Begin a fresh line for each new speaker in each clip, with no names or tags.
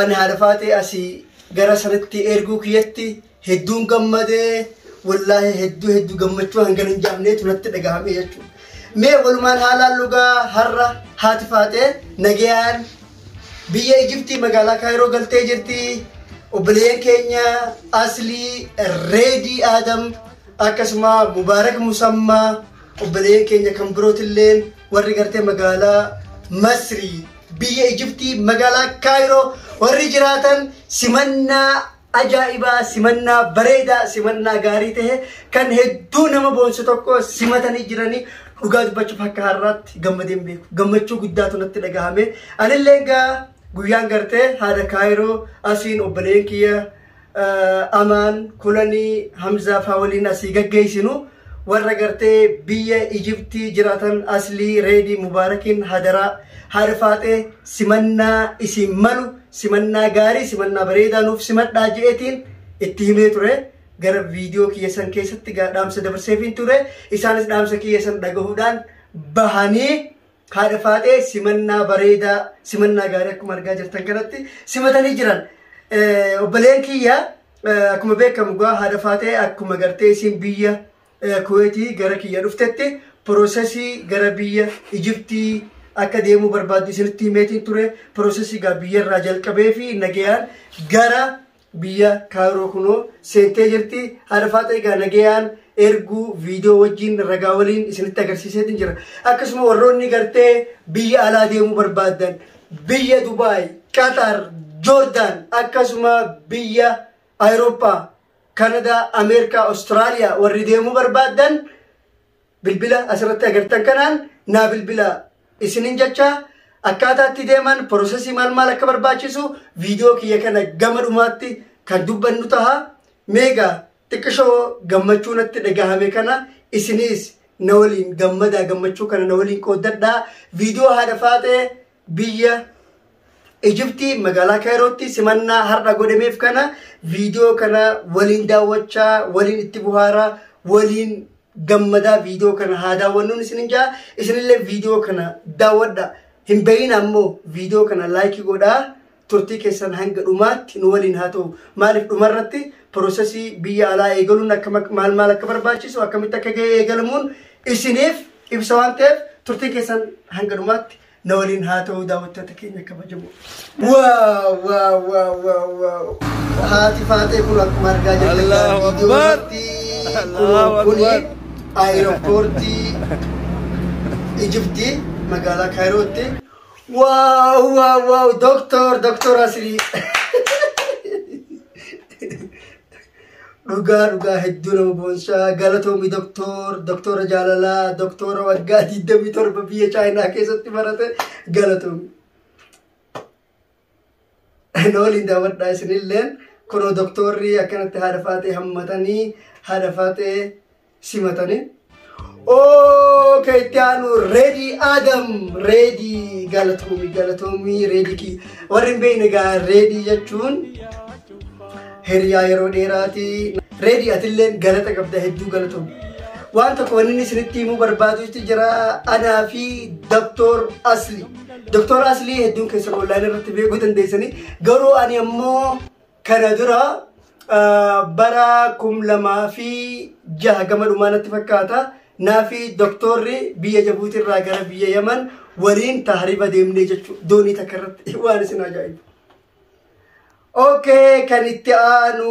Ani haadha faatee asii gara sanatti erguu kiyyatti hedduun gammadee wallaahi hedduu hedduu gammachuu hangan hin jaamneetu natti dhagahame jechuudha. Mee walumaan haalaan lugaa har'a haati faatee nagayaan biyya Ijiptii magaalaa Kaayiroo galtee jirti. Obboleeyyan keenya Aslii Reedii Aadam akkasuma Mubaarak Musammaa obboleeyyan keenya kan birootilleen warri gartee magaalaa Masrii biyya Ijiptii magaalaa Kaayiroo warri jiraatan simannaa ajaa'ibaa simannaa bareedaa simannaa gaarii ta'e kan hedduu nama boonsu tokko simatanii jiranii dhugaa dubbachuuf akka har'aatti gammadee hin beeku gammachuu guddaatu natti dhagahame anillee egaa guyyaan gartee haadha Kaayiroo asiin obboleen kiyya Amaan, Kulanii, Hamzaa faa waliin asii gaggeessinu warra gartee biyya Ijiptii jiraatan Aslii, Reedii, Mubaarakiin hadaraa haadha faaxee simannaa isin malu simannaa gaarii simannaa bareedaa nuuf simadhaa je'eetiin itti himee ture. Gara viidiyoo kiyya san keessatti gaa dhaamsa dabarseefiin ture. Isaanis dhaamsa kiyya san dhagahuudhaan bahanii Haadha Faaxee simannaa bareedaa simannaa gaarii akkuma argaa jirtan kanatti simatanii jiran. Eh, Obboleen kiyya eh, akkuma beekamu gaa haadha Faaxee akkuma gartee isin biyya eh, Kuweetii gara kiyya dhuftetti piroosesii gara biyya Ijiptii akka deemuu barbaaddu isinitti himeetiin ture piroosesii gaa biyyarraa jalqabee fi nagayaan gara Biyya Cairo kuno seentee jirti. Haadha Faaxee egaa nagayaan erguu viidiyoo wajjin ragaa waliin isinitti agarsiiseetiin jira. Akkasuma warroonni gartee biyya alaa deemuu barbaadan biyya Dubaay, Qatar, Joordaan akkasuma biyya Awurooppaa, Kanadaa, Ameerikaa, Awustiraaliyaa warri deemuu barbaadan bilbila asirratti agartan kanaan naa bilbila isinin jecha akkaataa itti deeman porosesii maal maal akka barbaachisu viidiyoo kiyya kana gama dhumaatti kan dubbannu taha meegaa xiqqishoo gammachuu natti dhagahame kana isiniis na waliin gammadaa gammachuu kana na waliin qooddadhaa viidiyoo haadha faaxee Biyya Ijiptii magaalaa Kaayirootti simannaa har'a godhameef kana viidiyoo kana waliin daawwachaa waliin itti buhaaraa waliin gammadaa viidiyoo kana haa daawwannuun isinin jaa isinillee viidiyoo kana daawwadha hin bahin ammoo viidiyoo kana laayikii godhaa. Turtii keessan hanga dhumaatti nu waliin haa ta'u. Maaliif dhumarratti pirosesii biyya alaa eegaluun akka mak- maal maal akka barbaachisu akkamitti akka ga'e eegalamuun isiniif ibsa waan ta'eef turtiin keessan hanga dhumaatti na waliin haa ta'u daawwattoota keenya kabajamoo. Waaw waaw waaw waaw waaw. Haati faatee kun akkuma argaa jirtan Allahu Akbar. viidiyoorratti Allahu kun kuni Akbar. aeropoortii Ijiptii magaalaa Kaayirootti Wow, wow, wow, doktor, doktor asli. Dhugaa dhugaa hedduu nama boonsaa galatoomi doktor, doktora jaalalaa, doktora waggaa 27 biyya Chaayinaa keessatti barate galatoomi. na waliin daawwadhaa isinilleen kunoo doktoorri akkanatti haadha faaxee hammatanii haadha faaxee simatanii. Okay, itti aanu Reedi Adam Reedi galatoomi galatoomi Reedi kii warri hin beekne egaa Reedi jechuun hiriyaa yeroo dheeraati. Reedi atillee galata qabda hedduu galatoomi. Waan tokko wanni isinitti himuu barbaadu jira anaa fi Doktoor Asli. Doktor Aslii hedduun keessan online irratti beekuu dandeessanii garuu ani ammoo kana dura ah, bara kum lamaa fi jaha gama dhumaa natti fakkaata naafi doktorri biyya Jabuutii irraa gara biyya Yaman waliin tahriba deemnee jechuudha doonii takka irratti waan isin ajaa'ibu. Okay, kan itti aanu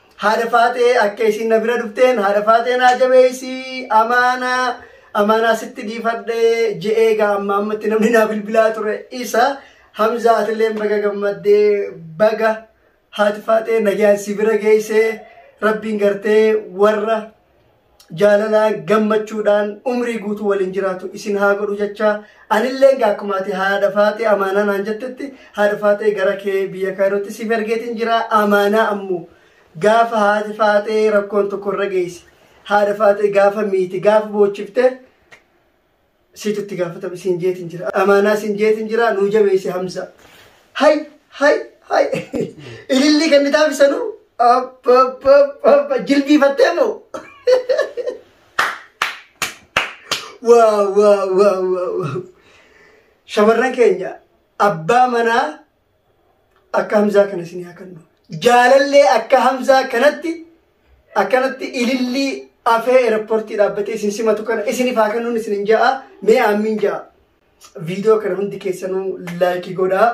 Haadha Faatee akka isiin na bira dhufteen haadha Faatee naa jabeessi amaanaa amaanaa sitti dhiifadhee je'ee gaa amma ammatti namni naa bilbilaa ture isa Hamzaa atilleen baga gammaddee baga haati Faatee nagaan si bira geessee rabbiin gartee warra jaalalaa gammachuudhaan umrii guutuu waliin jiraatu isin haa godhu jecha anillee egaa akkuma ati haadha faatee amaanaa naan jettetti haadha faatee gara kee biyya kaayirootti siif ergeetiin jira amaanaa ammoo gaafa haati faatee rakkoon tokko irra geessi haadha faatee gaafa miiti gaafa boochifte Siitu itti gaafatame siin jeetiin jira. Amaanaa siin jeetiin jira nuu jabeessi Hamza. Hay hay hay ilillii kan ni taasisanu abba abba abba jilbiifattee moo. Waaw waaw waaw waaw. Shamarran keenya abbaa manaa akka hamzaa kana isin haa kennu jaalallee akka hamzaa kanatti akkanatti ilillii afee eerpoortii dhaabbatee isin simatu kana isiniif haa kennuun isin hin ja'a mee aammiin ja'a viidiyoo kana hundi keessanuu laayikii godhaa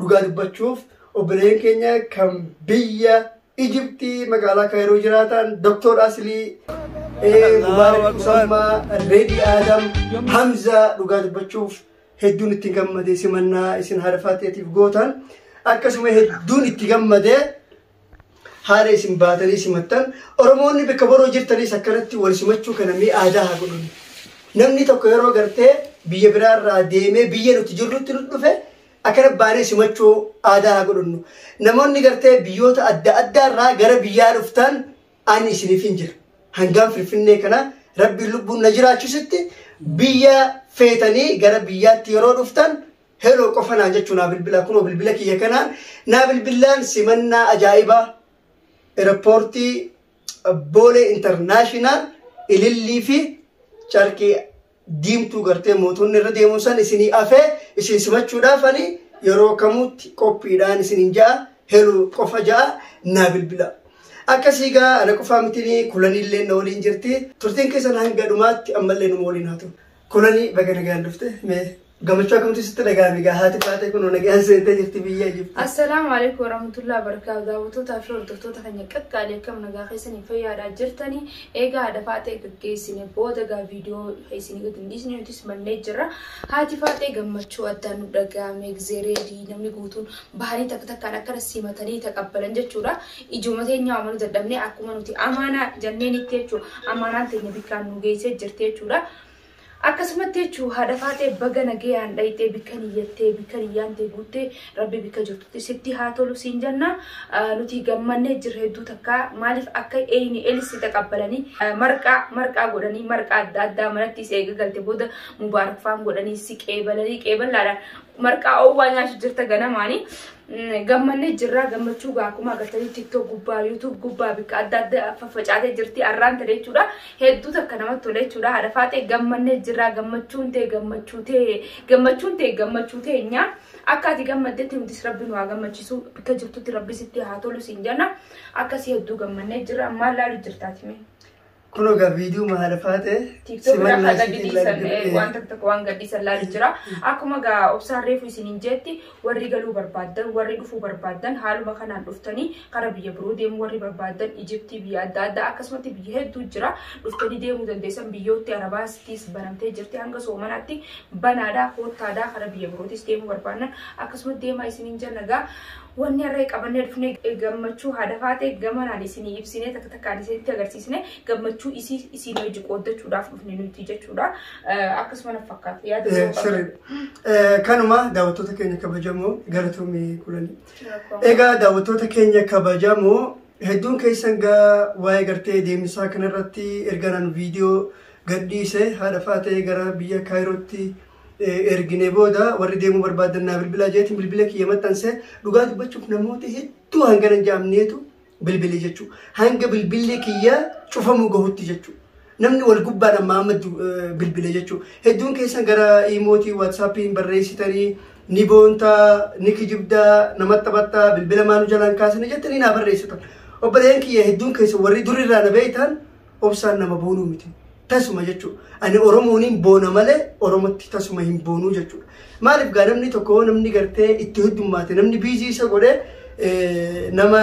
dhugaa dubbachuuf obboleeyyan keenya kan biyya Ijiptii magaalaa Kaayiroo jiraatan Doktor Asilii Mubaarak Usammaa Reedii Aadam Hamzaa dhugaa dubbachuuf hedduun itti gammadee simannaa isin haadha faaxeetiif gootan akkasuma hedduun itti gammadee haala isin baatanii simattan oromoonni bakka boroo jirtanis akkanatti wal simachuu kana mee aadaa haa godhun namni tokko yeroo gartee biyya biraarraa deemee biyya nuti jirrutti nu dhufe akkana baanee simachuu aadaa haa godhunnu namoonni gartee biyyoota adda addaarraa gara biyyaa dhuftan Ani isinifin jira. Hangaan Finfinnee kana Rabbiin lubbuun na jiraachisutti biyya feetanii gara biyyaatti yeroo dhuftan heloo qofa naan jechuu naa bilbilaa kunoo bilbila kiyya kanaan naa bilbilaan simannaa ajaa'ibaa erapoortii boolee intarnaashinaal ilillii fi carqii diimtuu gartee mootonni irra deemuun san isinii afee isin simachuudhaaf ani yeroo kamuutti qophiidhaan isinin ja'a heluu qofa ja'a naa bilbila. Akkasii gaa ana qofaa mitinii kulaniillee na waliin jirti turtiin keessan hanga dhumaatti ammallee numa waliin haa ta'u. Kulanii baga nagaan dhufte mee Gammachuu akkamtu sitti dhaga'ame egaa haati baatee kun nagaan seentee jirti biyya Ijibti. Assalaamu alaikum
warahmatullahi wabarakatuh. Daawwattootaa fi hordoftoota keenya qaqqaalee akkam nagaa keessanii fayyaadhaa jirtanii eegaa haadha faaxee gaggeessine booda gaa viidiyoo keessanii gadi hin dhiisne nutis mannee jirra. Haati faaxee gammachuu addaan nu dhaga'ame egzeereedii namni guutuun bahanii takka takkaan akkana simatanii taqabbalan jechuudha. Ijooma teenyaa amaluu dadhabnee akkuma nuti amaanaa janneenitti jechuudha. Amaanaan teenya bikkaan nu geessee jirti jechuudha. Akkasumatti jechu haadha faaxee baga nageyaan dhayxee bikka niyyattee bikka niyyaan tee guutte rabbi bikka jirtutti sitti haa tolu siin janna nuti gammannee jirra hedduu takkaa maaliif akka eyni elisti taqabbalanii marqaa marqaa godhanii marqaa adda addaa manatti is eega galte booda mubaarak faan godhanii si qeebalanii qeeballaadhaan marqaa oowwaa nyaachu jirta ganamaani gammannee jirraa gammachuu gaa akkuma agartanii tiktok gubbaa yuutuub gubbaa bikka adda adda faffacaatee jirti arraan tole jechuudha hedduu takka namatti tole jechuudha haadha faaxee gammannee jirraa gammachuun tee gammachuu tee gammachuun tee gammachuu tee nyaa akka ati gammaddetti nutis rabbi nu haa gammachiisu bikka jirtutti rabbi sitti haa tolu siin jenna akkasii hedduu gammannee jirra maal laalu jirtaati mee. Kun egaa
viidiyoo maal faate? TikTok irraa kan
gadhiisan waan takka waan gadhiisan laalu jira. Akkuma egaa obsaan reefu isiniin jeetti warri galuu barbaaddan warri dhufuu barbaaddan haaluma kanaan dhuftanii karaa biyya biroo deemuu warri barbaaddan Ijiptii biyya adda addaa akkasumatti biyya hedduu jira. Dhuftanii deemuu dandeessan biyyootti Arabaasittis banamtee jirti hanga soomanaatti banaadhaa koottaadhaa karaa biyya birootis deemuu barbaaddan akkasumatti deemaa isiniin jenna egaa. Wanni har'a qabannee dhufne gammachuu haadha faatee gamanaan isinii ibsinee takka takkaan isinitti agarsiisne gammachuu isii isinii hojii qooddachuudhaaf dhufne nuti jechuudha. Akkasuma na fakkaata. Yaada biroo qabda? Sirriidha. Kanuma
daawwattoota keenya kabajamoo galatoomii kulanii. Rakkoo. Egaa daawwattoota keenya kabajamoo hedduun keessan gaa waa'ee gartee deemsaa kanarratti erga naan viidiyoo gadhiise haadha faatee gara biyya Kaayirootti ergine booda warri deemuu barbaadan naa bilbilaa jeetiin bilbila kiyya maxxansee dhugaa dubbachuuf namoota hedduu hanga hin jaamneetu bilbile jechuudha. Hanga bilbilli kiyya cufamuu gahutti jechuudha. Namni wal gubbaan ammaa amma bilbile jechuudha. Hedduun keessan gara iimootii waatsaappiin barreessitanii ni boontaa, ni kijibdaa, namatti taphattaa, bilbila maanu jalaan kaasanii jettanii naa barreessitan. Obboleeyyan kiyya hedduun keessan warri durirraa na beektan obsaan nama boonuu miti. Tasuma jechuudha. Ani Oromooniin boona malee Oromotti tasuma hin boonuu jechuudha. Maaliif gaa namni tokko namni gartee itti heddummaate namni biizii isa godhee eh, nama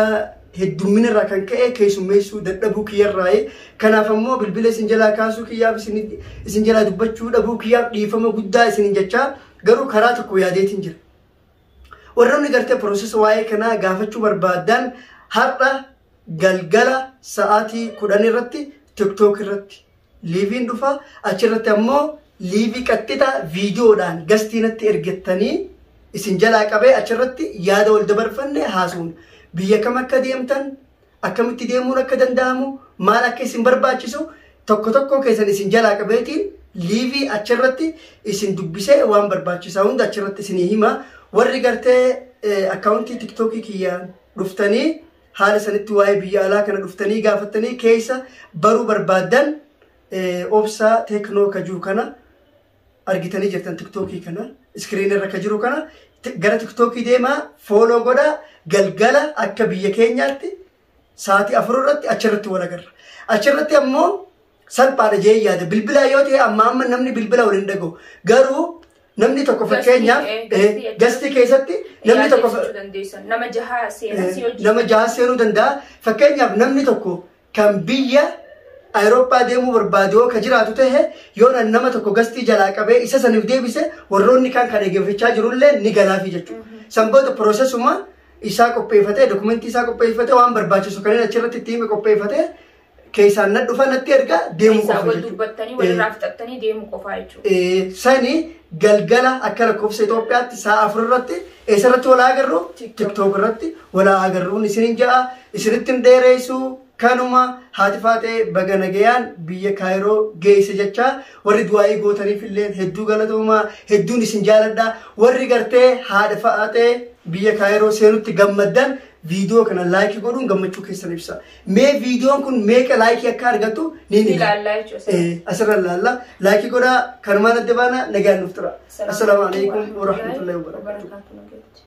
heddummina irraa kan ka'e keessummeessuu dadhabuu kiyyarraayi. Kanaaf ammoo bilbila isin jalaa kaasuu kiyyaaf isin isin jalaa dubbachuu dhabuu kiyyaaf dhiifama guddaa isin jechaa garuu karaa tokko yaadeetiin jira. warroonni gartee piroosesa waa'ee kanaa gaafachuu barbaadan har'a galgala sa'aatii kudhan irratti tiktook irratti liiviin dhufa achirratti ammoo liivii qaxxixa viidiyoodhaan gastii natti ergettanii isin jalaa qabee achirratti yaada wal dabarfanne haasuun biyya kam akka deemtan akkamitti deemuun akka danda'amu maal akka isin barbaachisu tokko tokkoo keessan isin jalaa qabeetiin liivii achirratti isin dubbisee waan barbaachisaa hunda achirratti isinii hima warri gartee akkaawuntii tiktookii kiyyaan dhuftanii haala sanitti waa'ee biyya alaa kana dhuftanii gaafattanii keessa baruu barbaaddan obsa teeknoo ka jiru kana argitanii jirtan tiktookii kana iskiriin irra ka jiru kana gara tiktookii deemaa fooloo godhaa galgala akka biyya keenyaatti sa'aatii afur irratti achirratti wal agarra. Achirratti ammoo salphaadha jee yaada bilbilaa yoo ta'e amma amma namni bilbila waliin dhaga'u garuu namni tokko Gastii, fakkeenyaaf eh, eh, gastii jechuun- gastii keessatti namni tokko fa- Yaadachuu dandeessa. Nama
jaha seenaa
si hojii. nama jaha seenuu danda'a fakkeenyaaf namni tokko kan biyya Awurooppaa deemuu barbaadu yoo ka jiraatu ta'e yoo nan nama tokko gastii jalaa qabee isa saniif deebise warroonni kan kan eeggachaa jirullee ni galaafi jechuudha. Sanboota piroosesuma isaa qopheeffatee dokumentii isaa qopheeffatee waan barbaachisu kanneen achirratti itti hime qopheeffatee keessaan na dhufa natti erga deemu Keessaa qofa wal jechuudha. dubbattanii Eh. walirraa
fixattanii deemu qofaa jechuudha. Eh, sani
galgala akka lakkoofsa Itoophiyaatti sa'a afur irratti eessarratti walaa agarru TikTok. tiktook irratti walaa agarruun isinin ja'a isinittin dheereessu kanuma haati faatee baga nagayaan biyya kaayiroo geesse jechaa warri du'aa'ii gootaniif illee hedduu galatoomaa hedduun isin jaaladha warri gartee haadha faatee biyya kaayiroo seenutti gammaddan viidiyoo kana laayikii godhuun gammachuu keessan ibsa Mee viidiyoon kun meeqa laayikii akka argatu ni Ni ilaalla jechuudha
asirratti. Eh, Asirra ilaalla.
Laayikii godhaa kanumaan adda baana nagaan nuuf tura. Assalaamu alaikum warahmatullahi wabarakatuh. wabarakatuh.